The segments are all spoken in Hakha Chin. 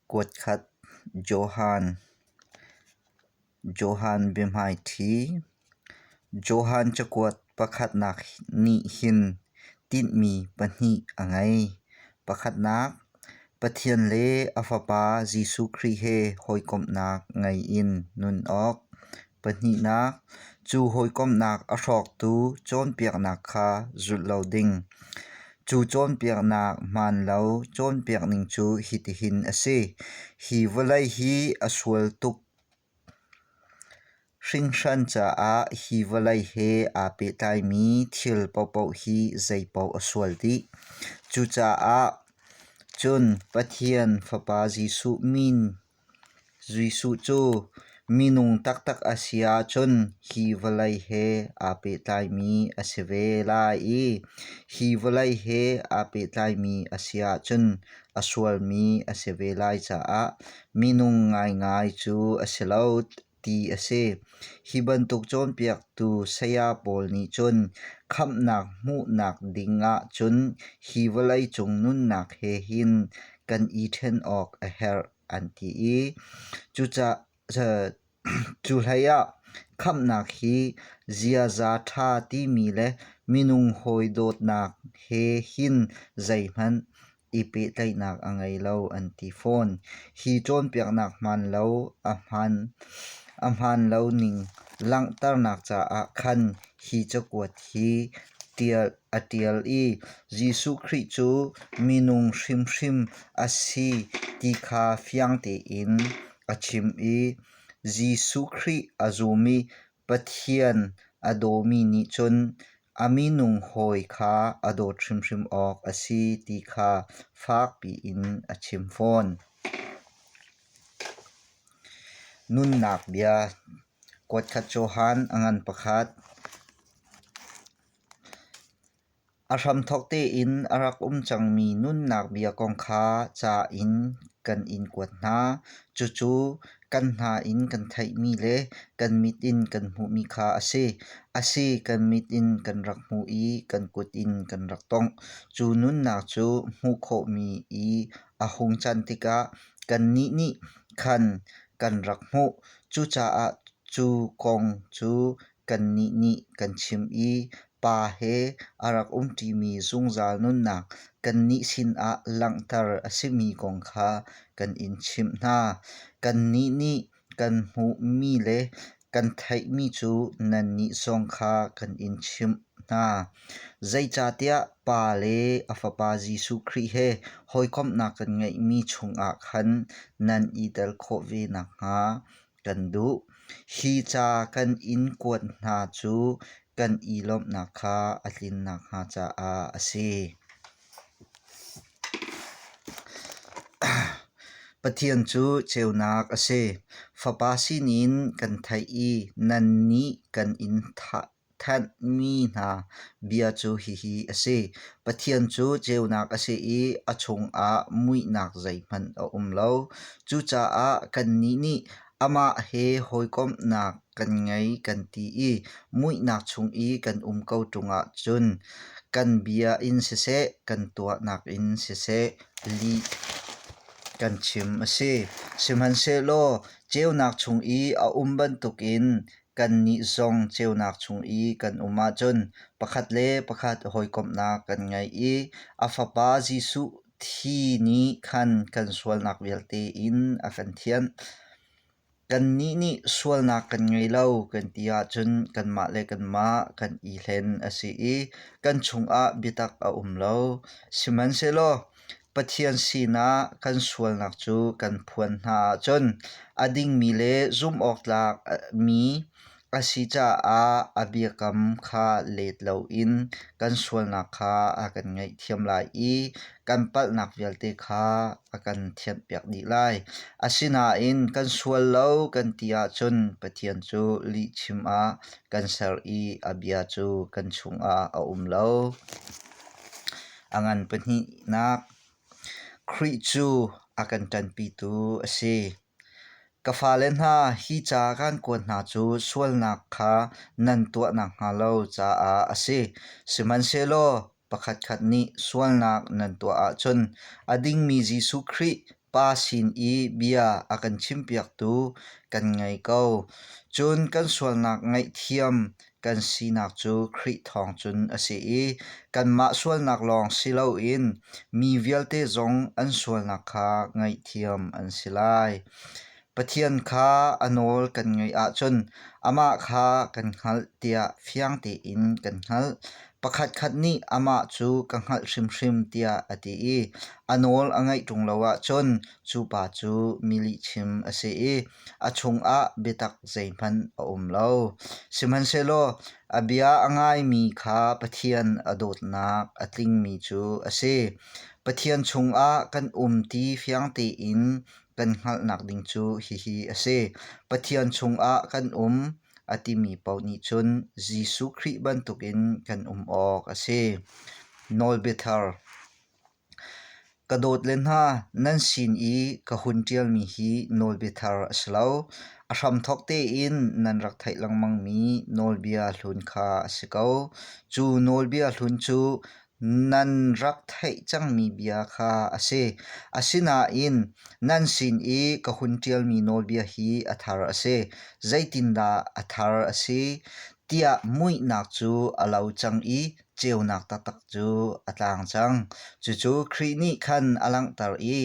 Kuatkhat Johan Johan biahmaiṭhi Johan cakuat pakhatnak nih hin tinhmi pahnih a ngei. Pakhatnak, Pathian le a Fapa Jesuh Khrih he hawikomhnak ngei in nun awk. Pahnihnak, cu hawikomhnak a hrawktu cawnpiaknak kha zulh lo ding. Cu cawnpiaknak hmaanlo cawnpiak ning cu hitihin a si: Hi vawlei hi a sual tuk. Hringhran caah hi vawlei he aa pehtlaimi thil paohpaoh hi zeipaoh a sual dih. Cucaah cun Pathian Fapa Jesuh min Jesuh cu minung taktak a si ahcun hi vawlei he aa pehtlaimi a si ve lai i hi vawlei he aa pehtlaimi a si ahcun a sualmi a si ve lai caah minung ngaingai cu a si lo. ti a si. Hi bantuk cawnpiaktu saya pawl nih cun khamhnak hmuhnak ding ahcun hi vawleicung nunnak he hin kan i ṭhen awk a herh an ti i cuhlei ah khamhnak hi ziaza ṭha timi le minung hawi dawtnak he hin zeihmanh i pehtlaihnak a ngei lo an ti fawn. Hi cawnpiaknak hmaan lo ning langhternak caah khan hi cakuat hi a ṭial i Jesuh Khrih cu minung hrimhrim a si ti kha fiang tein a chim i Jesuh Khrih a zum i Pathian a dawmi nih cun a minung hawi kha a dawt hrimhrim awk a si ti kha fakpi in a chim fawn. Nunnak bia kuatkhat Johan a ngan pakhat. A hramthawk tein a rak um cangmi nunnak bia kong kha ca in kan in kuat hna. Cucu kan hna in kan theihmi le kan mit in kan hmuhmi kha a si. A si kan mit in kan rak hmuh i kan kut in kan rak tongh. Cu nunnak cu hmuh khawhmi i a hung can tikah kannih nih khan kan rak hmuh. Cucaah cu kong cu Kannih nih kan chim i pa he a rak umṭimi zungzal nunnak kannih sinah langhter a simi kong kha kan in chimh hna. Kannih nih kan hmuhmi le kan theihmi cu nannih zong kha kan in chimh hna. Zeicahtiah Pa le a Fapa Jesuh Khrih he hawikomhnak kan ngeihmi chungah khan nan i tel khawh ve nakhnga kan duh. Hi ca kan in kuat hna cu kan i lawmhnak kha a tlin nakhnga caah a si. Pathian cu ceunak a si. Fapa sinin kan theih i nannih kan in thah Thanhmi hna bia cu hihi a si: Pathian cu ceunak a si i a chungah muihnak zeihmanh a um lo. Cucaah kannih nih amah he hawikomhnak kan ngei kan ti i muihnak chung i kan um ko ṭungah cun kan bia in siseh, kan tuahnak in siseh li kan chim a si. Sihmanhsehlaw ceunak chung i a um bantukin Kannih zong ceunak chung i kan um ahcun pakhat le pakhat hawikomhnak kan ngei i a Fapa Jesuh thi nih khan kan sualnak vialte in a kan thianh. Kannih nih sualnak kan ngei lo kan ti ahcun kanmah le kanmah kan i hlen a si i kan chungah biatak a um lo. Sihmanhsehlaw Pathian sinah kan sualnak cu kan phuan hna ahcun a dingmi le zumhawktlak mi a si caah a biakam kha let loin kan sualnak kha a kan ngaihthiam lai i kan palhnak vialte kha a kan thianhpiak dih lai. Asinain kan sual lo kan ti ahcun Pathian cu lihchim ah kan ser i a bia cu kan chungah a um lo. A ngan pahnihnak Khrih cu a kan ṭanpitu a si. Ka fale hna, hi ca kan kuat hna cu sualnak kha nan tuah nakhnga lo caah a si. Sihmanhsehlaw pakhatkhat nih sualnak nan tuah ahcun a dingmi Jesuh Khrih Pa sin i bia a kan chimpiaktu kan ngei ko. Cun kan sualnak ngaihthiam kan sinak cu Khrih thawng cun a si i kanmah sualnak lawng si loin mi vialte zong an sualnak kha ngaihthiam an si lai. Pathian kha a nawl kan ngaih ahcun amah kha kan hngalh tiah fiang tein kan hngalh. Pakhatkhat nih amah cu ka hngalh hrimhrim tiah a ti i a nawl a ngaih ṭung lo ahcun cu pa cu mi lihchim a si i a chungah biatak zeihmanh a um lo. Sihmanhsehlaw a bia a ngaimi kha Pathian a dawtnak a tlingmi cu a si. Pathian chungah kan um ti fiang tein kan hngalhnak ding cu hihi a si. Pathian chungah kan um a timi paoh nih cun Jesuh Khrih bantukin kan um awk a si. Nawlbiathar Ka dawt le hna, nan sin i ka hun ṭialmi hi nawlbiathar a si lo. A hramthawk tein nan rak theih lengmangmi nawlbia hlun kha a si ko. Cu nawlbia hlun cu Nan rak theih cangmi bia kha a si. Asinain nan sin i ka hun ṭialmi nawlbia hi a thar a si. Zeitindah a thar a si tiah muihnak cu a lo cang i ceunak taktak cu a tlang cang. Cucu Khrih nih khan a langhter i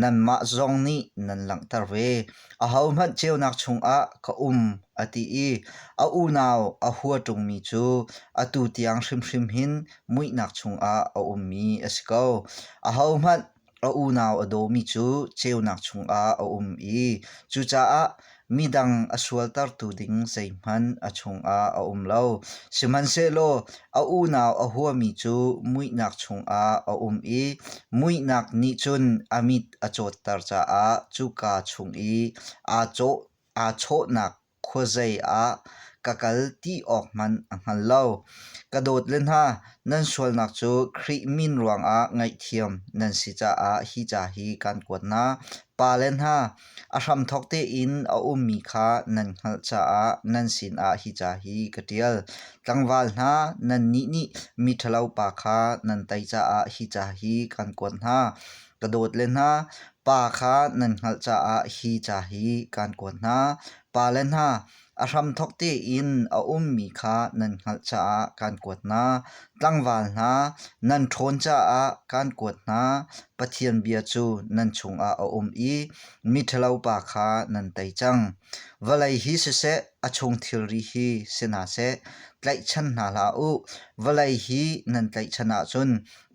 nanmah zong nih nan langhter ve. Ahohmanh ceunak chungah ka um a ti i a unau a hua ṭungmi cu atu tiang hrimhrim hin muihnak chungah a ummi a si ko. Ahohmanh a unau a dawmi cu ceunak chungah a um i cucaah midang a sualtertu ding zeihmanh a chungah a um lo. Sihmanhsehlaw a unau a huami cu muihnak chungah a um i muihnak nih cun a mit a cawtter caah cuka chung i aa chawhnak khuazei ah ka kal ti awk hmanh a hngal lo. Ka dawt le hna, nan sualnak cu Khrih min ruangah ngaihthiam nan si caah hi ca hi kaan kuat hna. Pa le hna, a hramthawk tein a ummi kha nan hngalh caah nan sinah hi ca hi ka ṭial. Tlangval hna, nannih nih miṭhalo pa kha nan tei caah hi ca hi kaan kuat hna. ka dawt le hna pa kha nan hngalh caah hi ca hi kaan kuat hna. Pa le hna a hramthawk tein a ummi kha nan hngalh caah kaan kuat hna. Tlangval hna nan ṭhawn caah kaan kuat hna. Pathian bia cu nan chungah a um i miṭhalo pa kha nan tei cang. Vawlei hi siseh, a chung thilri hi si hna seh, tlaihchan hna hlah u. Vawlei hi nan tlaihchan ahcun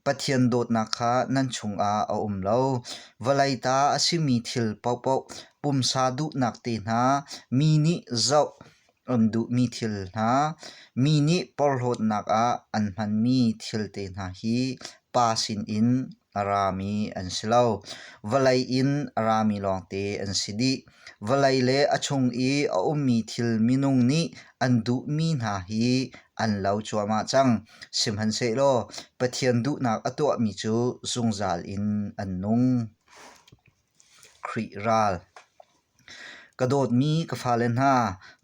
Pathian dawtnak kha nan chungah a um lo. Vawlei ta a simi thil paohpaoh pumsa duhnak te hna, mi nih zoh an duhmi thil hna, mi nih porhlawtnak ah an hmanmi thil te hna hi Pa sinin a rami an si lo. Vawlei in a rami lawngte an si dih. Vawlei le a chung i a ummi thil minung nih an duhmi hna hi an lo cuahmah cang. Sihmanhsehlaw Pathian duhnak a tuahmi cu zungzal in an nung. Khrih ral Ka dawtmi ka fale hna,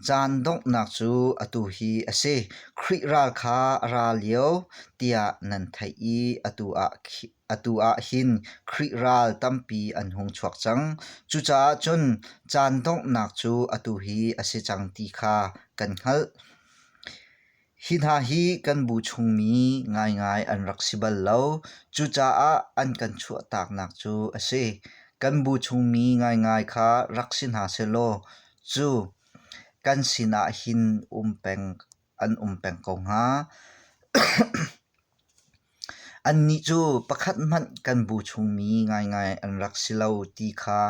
caan donghnak cu atu hi a si. Khrih ral kha a ra lio tiah nan theih i atu ah Atu ah hin Khrih ral tampi an hung chuak cang. Cucaah cun caan donghnak cu atu hi a si cang ti kha kan hngalh. Hi hna hi kan bu chungmi ngaingai an rak si bal lo. Cucaah an kan chuahtaknak cu a si. Kan bu chungmi ngaingai kha rak si hna sehlaw cu kan sinah hin um peng an um peng ko hnga. Annih cu pakhat hmanh kan bu chungmi ngaingai an rak si lo ti kha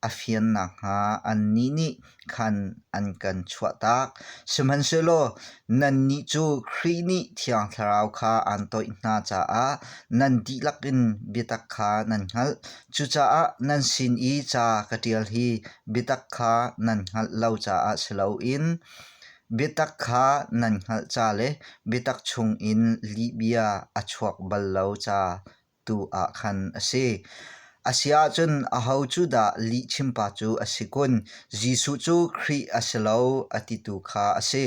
a fian nakhnga annih nih khan an kan chuahtak. Sihmanhsehlaw nannih cu Khrih nih Thiang Thlarau kha aan toih hna caah nan dihlak in biatak kha nan hngalh. Cucaah nan sin i ca ka ṭial hi biatak kha nan hngalh lo caah si loin Biatak kha nan hngalh ca le biatak chungin lihbia a chuak bal lo ca tu ah khan a si. A si ahcun aho cu dah lihchimpa cu a si kun? Jesuh cu Khrih a si lo a ti tu kha a si.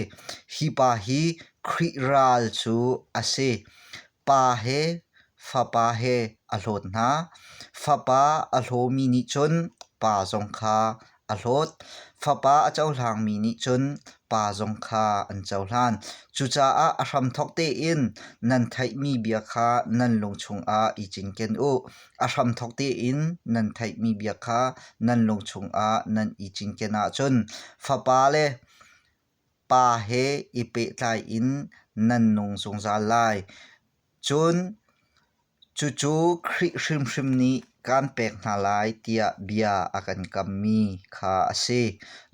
Hi pa hi Khrih ral cu a si. Pa he fapa he a hlawt hna. Fapa a hlawmi nih cun pa zong kha a hlawt. Fapa a cohlangmi nih cun pa zong kha an cohlan. Cucaah a hramthawk tein nan theihmi bia kha nan lungchung ah i cinken u. A hramthawk tein nan theihmi bia kha nan lungchung ah nan i cinken ahcun fapa le Pa he i pehtlai in nan nung zungzal lai. Cun cucu Khrih hrimhrim nih kaan pek hna lai tiah bia a kan kammi kha a si.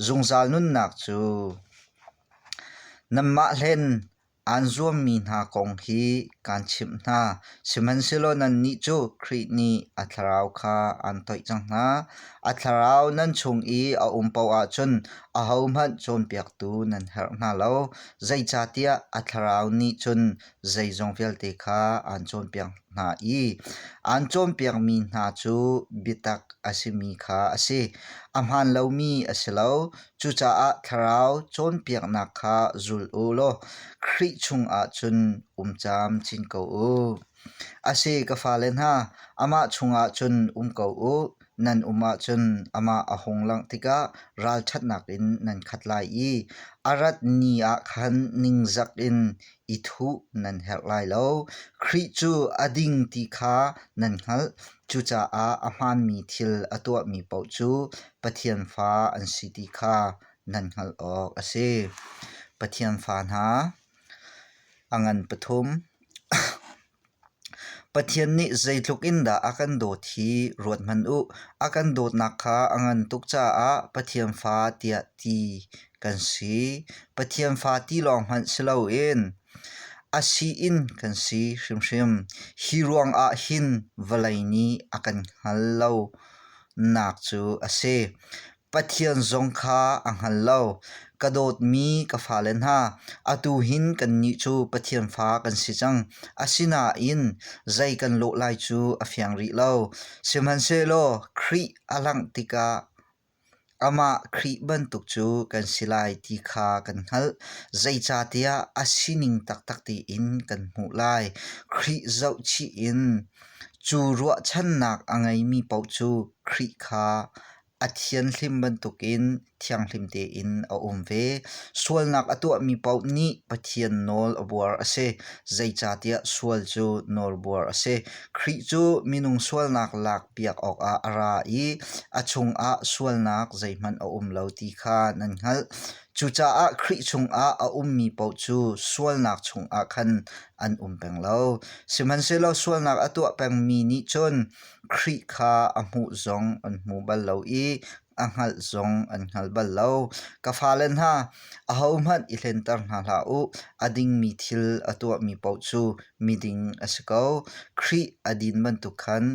Zungzal nunnak cu nanmah hlen Aan zuammi hna kong hi kaan chimh hna, sihmanhsehlaw nannih cu Khrih nih a thlarau kha aan toih cang hna. A thlarau nan chung i a um paoh ahcun ahohmanh cawnpiaktu nan herh hna lo, zeicahtiah a thlarau nih cun zeizong vialte kha aan cawnpiak hna i aan cawnpiakmi hna cu biatak a simi kha a si, a hmaan lomi a si lo. Cucaah Thlarau cawnpiaknak kha zul u law Khrih chungah cun um cam chin ko u. A si ka fale hna, amah chungah cun um ko u. Nan um ahcun amah a hung langh tikah ralṭhatnak in nan khat lai i a rat ni ah khan ningzak in i thuh nan herh lai lo. Khrih cu a ding ti kha nan hngalh. Cucaah a hmaanmi thil a tuahmi paoh cu Pathian fa an si ti kha nan hngalh awk a si. Pathian fa hna, a ngan pathum, Pathian nih zeitluk in dah a kan dawt hi ruathmanh u. A kan dawtnak kha a ngan tuk caah Pathian fa tiah ti kan si. Pathian fa ti lawng hmanh si loin a si in kan si hrimhrim. Hi ruangah hin vawlei nih a kan hngal lo nak cu a si. Pathian zong kha a hngal lo. Ka dawtmi ka fale hna, atu hin kannih cu Pathian fa kan si cang. Asinain zei kan lawh lai cu a fiang rih lo. Sihmanhsehlaw Khrih a langh tikah amah Khrih bantuk cu kan si lai ti kha kan hngalh. Zeicahtiah a sining taktak tiin kan hmuh lai. Khrih zohchih in cu ruahchannak a ngeimi paoh cu Khrih kha a thianhlim bantukin thianghlim tein a um ve. Sualnak a tuahmi paoh nih Pathian nawl a buar a si. Zeicahtiah sual cu nawlbuar a si. Khrih cu minung sualnak lakpiak awkah a ra i a chungah sualnak zeihmanh a um lo ti kha nan hngalh. Cucaah Khrih chungah a ummi paoh cu sualnak chungah khan an um peng lo. Sihmanhsehlaw sualnak a tuah pengmi nih cun Khrih kha a hmuh zong an hmu bal lo i a hngalh zong an hngal bal lo. Ka fale hna, ahohmanh i hlenter hna hlah u. A dingmi thil a tuahmi paoh cu miding a si ko. Khrih a din bantuk khan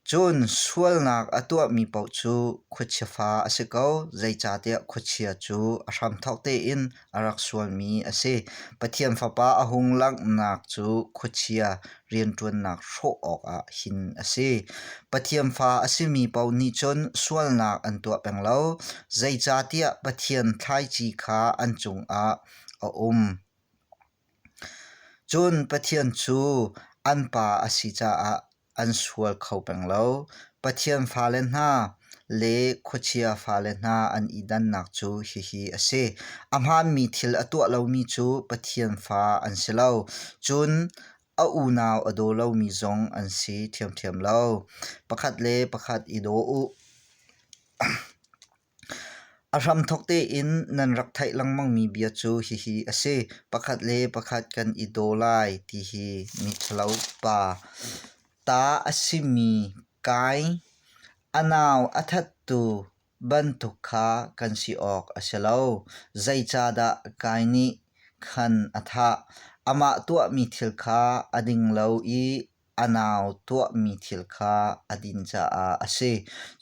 cun sualnak a tuahmi paoh cu khuachia fa a si ko. Zeicahtiah khuachia cu a hramthawk tein a rak sualmi a si. Pathian Fapa a hung langhnak cu khuachia rianṭuannak hrawh awkah hin a si. Pathian Fa a simi paoh nih cun sualnak an tuah peng lo, zeicahtiah Pathian thlaici kha an cungah a um. Cun Pathian cu an Pa a si caah an sual kho peng lo. Pathian fale hna le khuachia fale hna an i dannak cu hihi a si: a hmaanmi thil a tuah lomi cu Pathian fa an si lo, cun a unau a daw lomi zong an si ṭhiamṭhiam lo. Pakhat le pakhat i daw u. A hramthawk tein nan rak theih lengmangmi bia cu hihi a si: pakhat le pakhat kan i daw lai ti hi miṭhalo pa, ta a simi kai, a nau a thattu bantuk kha kan si awk a si lo. Zeicahdah kai nih khan a thah? Amah tuahmi thil kha a ding lo i a nau tuahmi thil kha a din caah a si.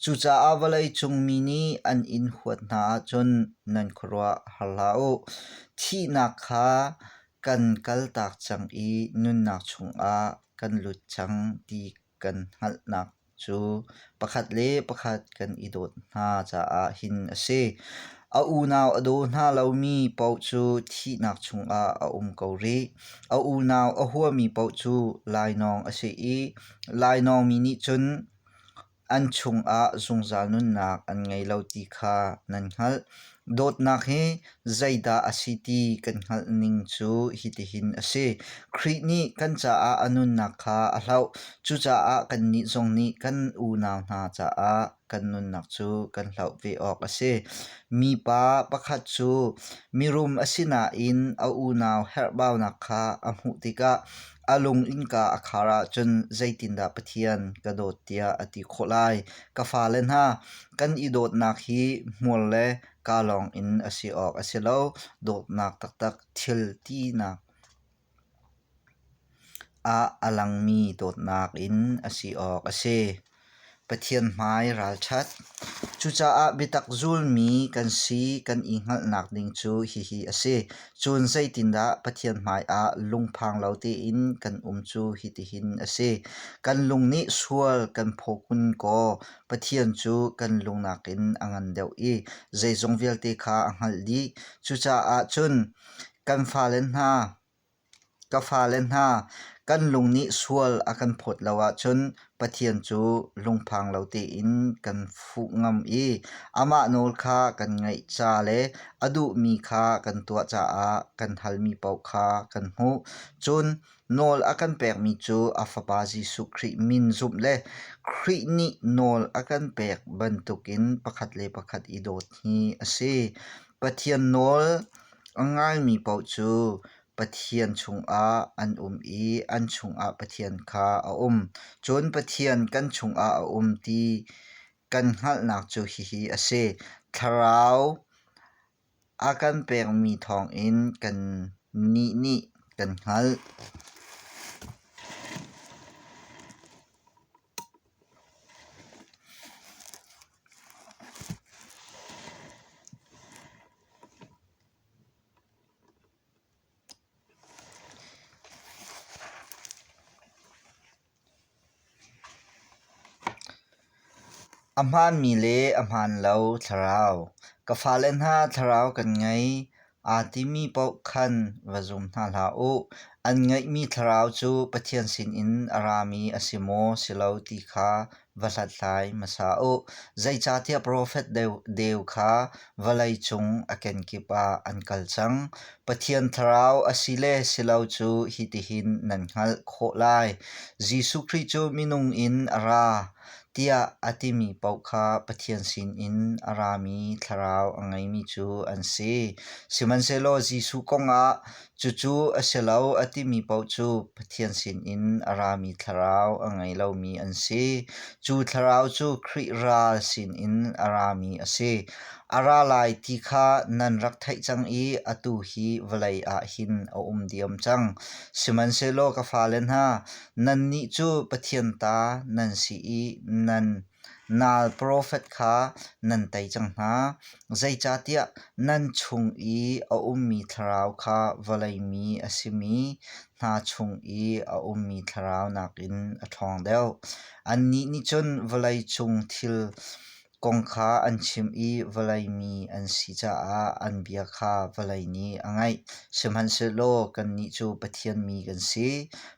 Cucaah vawleicung mi nih an in huat hna ahcun nan khuaruah har hlah u. Thihnak kha kan kaltak cang i nunnak chungah kan lut cang ti kan hngalhnak cu pakhat le pakhat kan i dawt hna caah hin a si. A unau a daw hna lomi paoh cu thihnak chungah a um ko rih. A unau a huami paoh cu lainawng a si i lainawng mi nih cun an chungah zungzal nunnak an ngei lo ti kha nan hngalh. Dawtnak hi zeidah a si ti kan hngalh ning cu hitihin a si. Khrih nih kan caah a nunnak kha a hloh. Cucaah kannih zong nih kan unau hna caah kan nunnak cu kan hloh ve awk a si. Mipa pakhat cu mirum a si nain a unau herhbaunak kha a hmuh tikah A lung innka a khar ahcun zeitindah Pathian ka dawt tiah a ti khawh lai? Ka fale hna, kan i dawtnak hi hmual le kaa lawngin a si awk a si lo. Dawtnak taktak thil tinak ah a langmi dawtnak in a si awk a si. Pathian hmai ralṭhat. Cucaah biatak zulmi kan si kan i hngalhnak ding cu hihi a si. Cun zeitindah Pathian hmaiah lungphang lo tein kan um cu hitihin a si. Kan lung nih sual kan phawkun kaw Pathian cu kan lung nakin a ngan deuh i zeizong vialte kha a hngalh dih. Cucaah cun kan fale hna, Ka fale hna, kan lung nih sual a kan phawt lo ahcun Pathian cu lungphang lo tein kan fuh ngam i amah nawl kha kan ngaih ca le a duhmi kha kan tuah caah kan halmi paoh kha kan hmuh. Cun nawl a kan pekmi cu a Fapa Jesuh Khrih min zumh le Khrih nih nawl a kan pek bantukin pakhat le pakhat i dawt hi a si. Pathian nawl a ngaimi paoh cu Pathian chungah an um i an chungah Pathian kha a um. Cun Pathian kan chungah a um ti kan hngalhnak cu hihi a si: Thlarau a kan pekmi thawngin kannih nih kan hngalh. A hmaanmi le a hmaan lo thlarau. Ka fale hna thlarau kan ngei. Aa timi paoh khan va zum hna hlah u. An ngeihmi thlarau cu Pathian sinin a rami a si maw, si lo ti kha va hlathlai hmasa u. Zeicahtiah profet deu kha vawlei cung a kenkip ah an kal cang. Pathian thlarau a si le si lo cu hitihin nan hngalh khawh lai. Jesuh Khrih cu minung in a ra. tiah a timi paoh kha Pathian sinin a rami thlarau a ngeimi cu an si. Sihmanhsehlaw Jesuh kongah cucu a si lo a timi paoh cu Pathian sinin a rami thlarau a ngei lomi an si. Cu thlarau cu Khrih ral sinin a rami a si. A ra lai ti kha nan rak theih cang i atu hi vawlei ah hin a um diam cang. Sihmanhsehlaw ka fale hna, Nannih cu Pathian ta nan si i nan nal profet kha nan tei cang hna, zeicahtiah nan chung i a ummi thlarau kha vawlei mi a simi hna chung i a ummi thlarau nakin a ṭhawng deuh. Annih nih cun vawlei cung thil Kong kha an chimh i vawlei mi an si caah an bia kha vawlei nih a ngaih. Sihmanhsehlaw kannih cu Pathian mi kan si.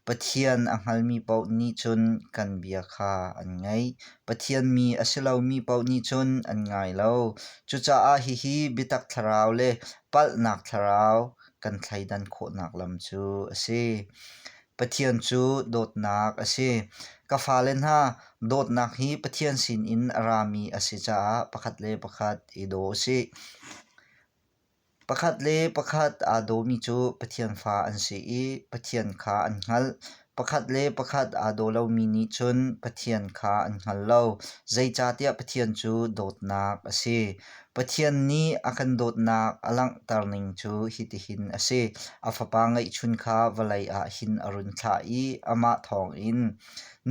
Pathian a hngalmi paoh nih cun kan bia kha an ngaih. Pathian mi a si lomi paoh nih cun an ngai lo. Cucaah hihi biatak thlarau le palhnak thlarau kan thleidan khawhnak lam cu a si. Pathian cu dawtnak a si. Ka fale hna, dawtnak hi Pathian sinin a rami a si caah pakhat le pakhat i daw u sih. Pakhat le pakhat aa dawmi cu Pathian fa an si i Pathian kha an hngalh. Pakhat le pakhat aa daw lomi nih cun Pathian kha an hngal lo. Zeicahtiah Pathian cu dawtnak a si. Pathian nih a kan dawtnak a langhter ning cu hitihin a si: a Fapa ngeihchun kha vawlei ah hin a run thlah i amah thawngin,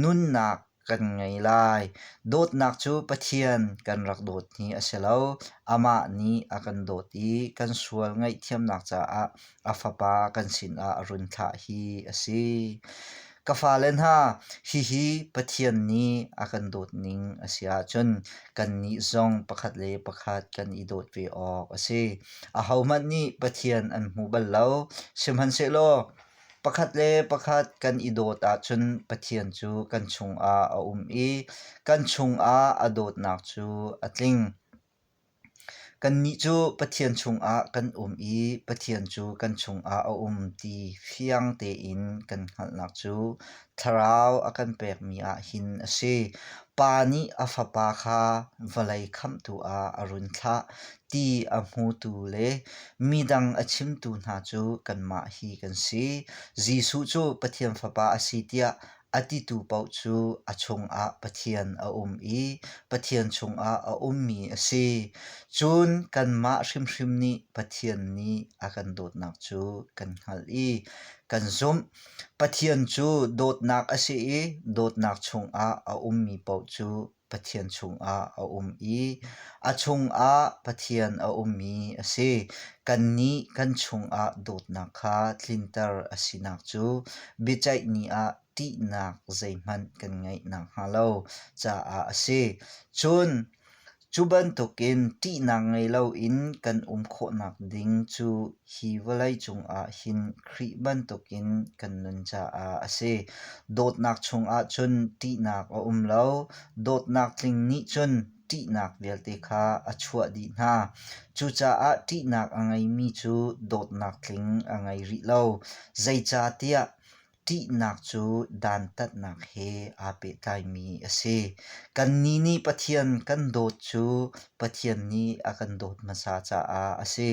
Nunnak kan ngei lai. Dawtnak cu Pathian kan rak dawt hi a si lo, amah nih a kan dawt i kan sual ngaihthiamnak caah a fapa kan sinah a run thlah hi a si. Ka fale hna, hihi Pathian nih a kan dawt ning a si ahcun kannih zong pakhat le pakhat kan i dawt ve awk a si. Ahohmanh nih Pathian an hmu bal lo. Sihmanhsehlaw pakhat le pakhat kan i dawt ahcun Pathian cu kan chungah a um i kan chungah a dawtnak cu a tling. Kannih cu Pathian chungah kan um i Pathian cu kan chungah a um ti fiang tein kan hngalhnak cu thlarau a kan pekmi ah hin a si. Pa nih a Fapa kha vawlei khamhtu ah a run thlah ti a hmutu le midang a chimtu hna cu kanmah hi kan si. Jesuh cu Pathian Fapa a si tiah A titu paoh cu a chungah Pathian a um i Pathian chungah a ummi a si. Cun kanmah hrimhrim nih Pathian nih a kan dawtnak cu kan hngalh i kan zumh. Pathian cu dawtnak a si i dawtnak chungah a ummi paoh cu Pathian chungah a um i a chungah Pathian a ummi a si. Kannih kan chungah dawtnak kha tlinter a sinak cu biaceih ni ah ṭihnak zeihmanh kan ngeih nakhnga lo caah a si. Cun cu bantukin ṭihnak ngei loin kan um khawhnak ding cu Hi vawlei cungah hin Khrih bantukin kan nun caah a si. Dawtnak chungah cun ṭihnak a um lo, dawtnak tling nih cun ṭihnak vialte kha a chuah dih hna. Cucaah ṭihnak a ngeimi cu dawtnak tling a ngei rih lo. Zeicahtiah ṭihnak cu dantatnak he aa pehtlaimi a si. Kannih nih Pathian kan dawt cu Pathian nih a kan dawt hmasa caah a si.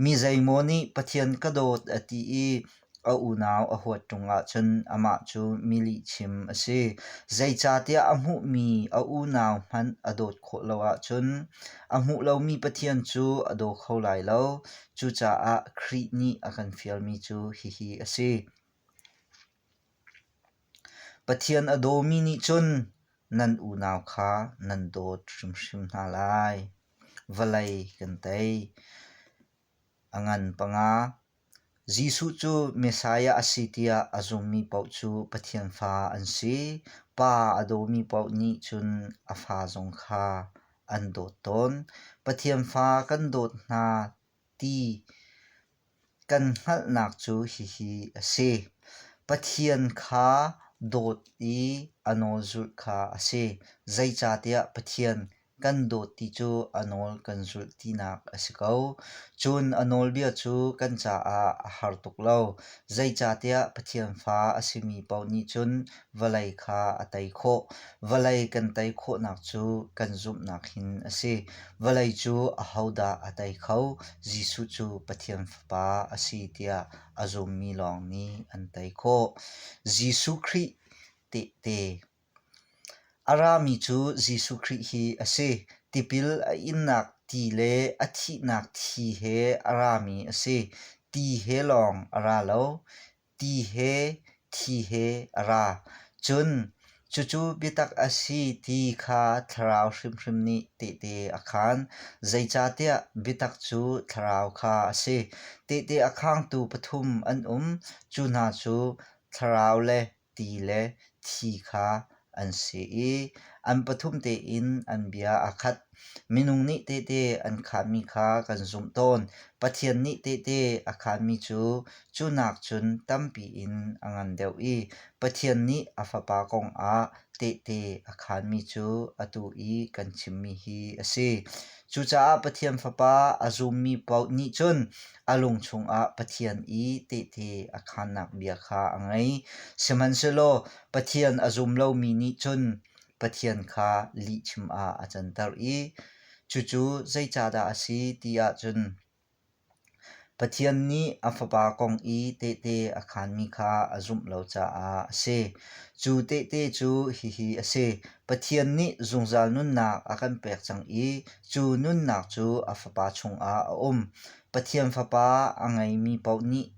Mi zeimaw nih Pathian ka dawt a ti i a unau a huat ṭung ahcun amah cu mi lihchim a si. Zeicahtiah a hmuhmi a unau hmanh a dawt khawh lo ahcun a hmuh lomi Pathian cu a daw kho lai lo. Cucaah Khrih nih a kan fialmi cu hihi a si. Pathian a dawmi nih cun nan unau kha nan dawt hrimhrim hna lai. Vawlei kan tei. A ngan panga Jesuh cu Messiah a si tiah a zummi paoh cu Pathian fa an si. Pa a dawmi paoh nih cun a fa zong kha an dawt tawn. Pathian fa kan dawt hna ti kan hngalhnak cu hihi a si: Pathian kha dawt i a nawl zulh kha a si. Zeicahtiah Pathian kan dawt ti cu a nawl kan zulh tinak a si ko. Cun a nawlbia cu kan caah a har tuk lo. Zeicahtiah Pathian fa a simi paoh nih cun vawlei kha a tei khawh. Vawlei kan tei khawhnak cu kan zumhnak hin a si. Vawlei cu ahodah a tei kho? Jesuh cu Pathian Fapa a si tiah a zummi lawng nih an tei khawh. Jesuh Khrih tehte. A rami cu Jesuh Khrih hi a si. Tipil a innak ti le a thihnak thi he a rami a si. Ti he lawng a ra lo. ti he thi he a ra. Cun cucu biatak a si ti kha thlarau hrimhrim nih tehte a khaan. Zeicahtiah biatak cu thlarau kha a si. Tehte a khaangtu pathum an um. Cu hna cu thlarau le ti le thi kha an si i an pathum tein an bia aa khat. Minung nih tehte an khaanmi kha kan zumh tawn. Pathian nih tehte a khaanmi cu cu nak cun tampi in a ngan deuh i Pathian nih a Fapa kong ah tehte a khaanmi cu atu i kan chimmi hi a si. Cucaah Pathian Fapa a zummi paoh nih cun a lung chungah Pathian i tehte a khaannak bia kha a ngei. Sihmanhsehlaw Pathian a zum lomi nih cun Pathian kha lihchim ah a canter i cucu zeicahdah a si ti ahcun Pathian nih a Fapa kong i tehte a khaanmi kha a zumh lo caah a si. Cu tehte cu hihi a si. Pathian nih zungzal nunnak a kan pek cang i cu nunnak cu a Fapa chungah a um. Pathian Fapa a ngeimi paoh nih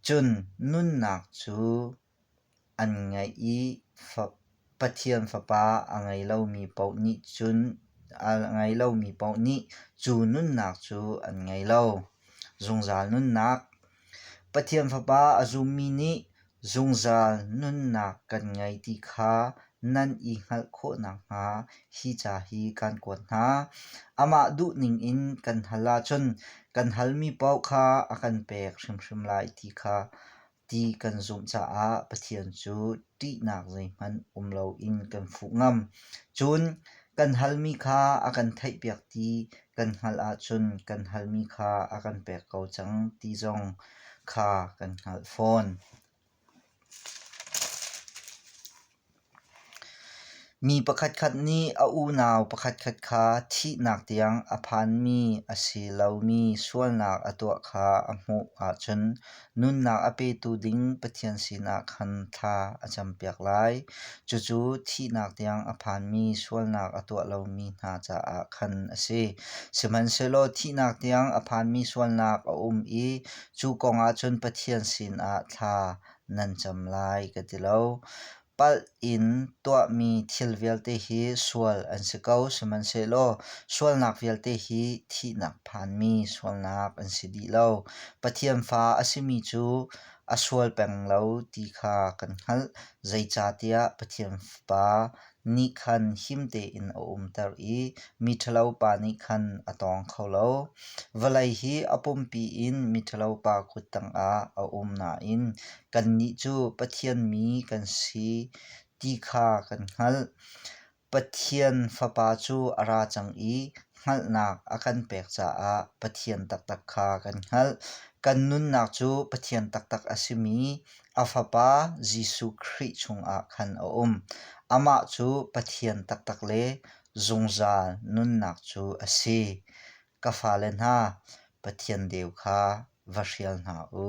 cun nunnak cu An ngaih i Pathian Fapa a ngei lomi paoh nih cun cu nunnak cu an ngei lo. Zungzal nunnak Pathian Fapa a zummi nih zungzal nunnak kan ngei ti kha nan i hngalh khawh nakhnga hi ca hi kaan kuat hna. Amah duh ningin kan hal ahcun kan halmi paoh kha a kan pek hrimhrim lai ti kha ti kan zumh caah Pathian cu ṭihnak zeihmanh um loin kan fuh ngam. Cun kan halmi kha a kan theihpiak ti kan hngalh ahcun kan halmi kha a kan pek ko cang ti zong kha kan hngalh fawn. Mi pakhatkhat nih a unau pakhatkhat kha thihnak tiang a phanmi a si lomi sualnak a tuah kha a hmuh ahcun nunnak a petu ding Pathian sinah khan thla a campiak lai. Cucu thihnak tiang a phanmi sualnak a tuah lomi hna caah khan a si. Sihmanhsehlaw thihnak tiang a phanmi sualnak a um i cu kong ah cun Pathian sinah thla nan cam lai ka ti lo. Palh in tuahmi thil vialte hi sual an si ko, sihmanhsehlaw sualnak vialte hi thihnak phanmi sualnak an si dih lo. Pathian fa a simi cu a sual peng lo ti kha kan hngalh. Zeicahtiah Pathian Fapa nih khan him tein a umter i miṭhalo pa nih khan a tawng kho lo. Vawlei hi a pumpi in miṭhalo pa kut tangah a um nain kannih cu Pathian mi kan si ti kha kan hngalh. Pathian Fapa cu a ra cang i hngalhnak a kan pek caah Pathian taktak kha kan hngalh. Kan nunnak cu Pathian taktak a simi a Fapa Jesuh Khrih chungah khan a um. Amah cu Pathian taktak le zungzal nunnak cu a si. Ka fale hna, Pathian deu kha va hrial hna u.